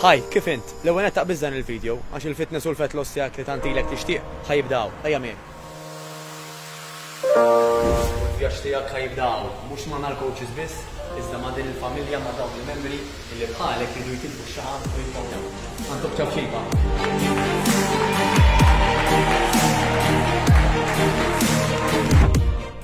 Hi, kif int? L-ewwel nett aqbiż dan il-video, għax il-fitness u l-fat loss tiegħek li tant ilek tixtieq, ħa jibda hawn. Ejja miegħi. U l-vjaġġ tiegħek ħa jibda hawn, mhux ma' mal-coaches biss, iżda ma' din il-familja, ma' dawn il-membri illi bħalek jridu jkisbu x-xagħab u jibqgħu hemm. Ħa ntuk ċapċipa.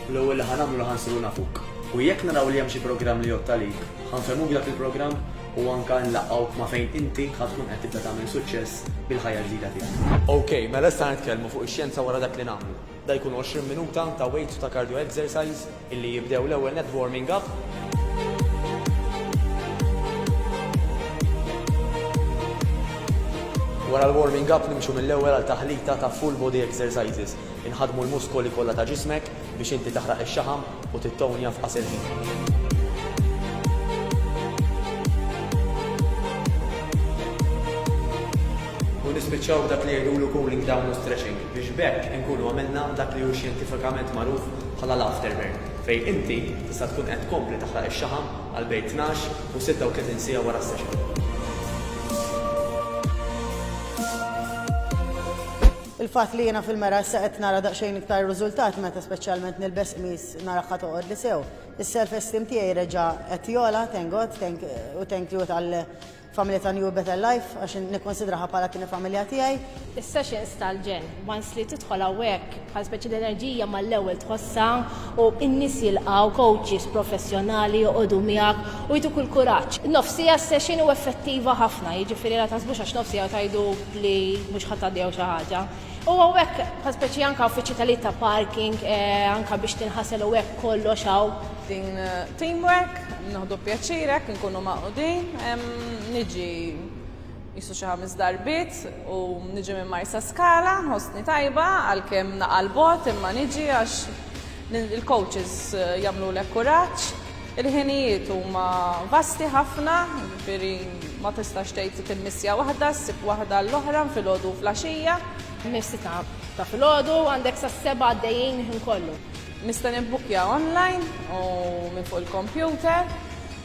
U l-ewwel li ħa nagħmlu li ħa nsiru nafuk. U jekk naraw li hemm xi programm li jgħodd għalik, ħa nfehmuk dak il-programm u anke nlaqqgħu ma' fejn inti ħa tkun qed tibda tagħmel suċċess bil-ħajja ġdida tiegħek. Ok, mela issa ħa nitkellmu fuq ix-xjenza wara dak li nagħmlu. Da jkunu 20 minuta ta' weights u ta' cardio exercise illi jibdew l-ewwel nett b'warming up. Wara l-warming up nimxu mill-ewwel għal taħlita ta' full body exercises. Inħaddmu l-muskoli kollha ta' ġismek biex inti taħraq ix-xaħam u tittownja f'qasir ħin. u nispiċċaw dak li jgħidulu cooling down u stretching biex b'hekk inkunu għamilna dak li hu xjentifikament magħruf bħala l-afterburn fejn inti tista' tkun qed tkompli taħraq ix-xaħam għal bejn tnax u sitta u tletin siegħa wara s-session. Il-fatt li jiena fil-mera issa qed nara daqsxejn iktar riżultat meta speċjalment nilbes qmis narahha toqgħodli sew. Is-self esteem tiegħi reġa' qed jogħla, thank God, thank u thank you tal familja ta' New Better Life għax nikkunsidraha bħala t-tieni familja tiegħi. Is-sessions tal-ġenn once li tidħol hawnhekk bħal speċi l-enerġija mal-ewwel tħossha u n-nies jilqgħu, coaches professjonali joqogħdu miegħek u jtuk il-kuraġġ. Nofs siegħa s-session u effettiva ħafna, jiġifieri la taħsbux għax nofs siegħa u tgħidu, li mhux ħa tgħaddi jew xi ħaġa. U hawn hekk bħal speċi anke hawn fiċ-ċitalijiet ta' parking anke biex tinħasel u hekk kollox hawn. Din teamwork, nieħdu pjaċir hekk inkunu magħqudin. Niġi qisu xi ħames darbiet u niġi minn Marsaskala, nħossni tajba għalkemm naqa' 'l bogħod imma niġi għax il-coaches jagħmlulek kuraġġ. Il-ħinijiet huma vasti ħafna, jiġifieri ma tistax tgħid li tilmissja waħda, ssib waħda għall-oħra filgħodu u flaxija. Mis-sitta ta' filgħodu għandek sas-sebgħa għaddejjin il-ħin kollu. Nista' nibbukkja online u minn fuq il-kompjuter.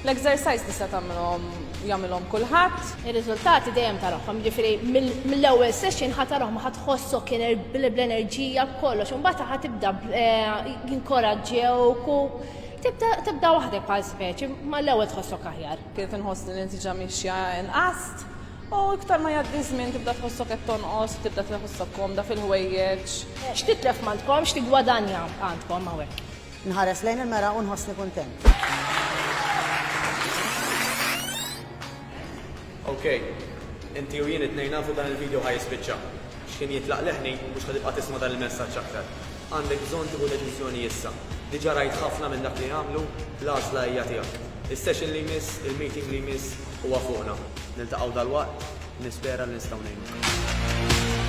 L-exercise tista' tagħmilhom jagħmilhom kulħadd. Ir-riżultati dejjem tarahom, jiġifieri mill-ewwel session ħa tarahom ħa tħossok bl-enerġija b'kollox, imbagħad ħa tibda jinkoraġġewk u Tibda waħdek bħal speċi, ma l-ewwel tħossok aħjar. Kienet inħoss li l-intiġa miexja inqas u iktar ma jgħaddi ż-żmien tibda tħossok qed tonqos u tibda tħossok komda fil-ħwejjeġ. X'titlef m'għandkom, x'tiggwadanja għandkom hawnhekk? Nħares lejn il-mera u nħossni kuntent. Ok. Inti u jien it-tnejn nafu dan il-video ħa jispiċċa. X'ħin jitlaq leħni, mhux ħa tibqa' tisma' dan il-messaġġ aktar. Għandek bżonn tieħu deċiżjoni issa. Diġa rajt ħafna minn dak li għamlu, l-għażla hija tiegħek. Is-session li jmiss, il-meeting li jmiss, huwa fuqna. Niltaqgħu dalwaqt, nispera li nistgħu ngħinuk.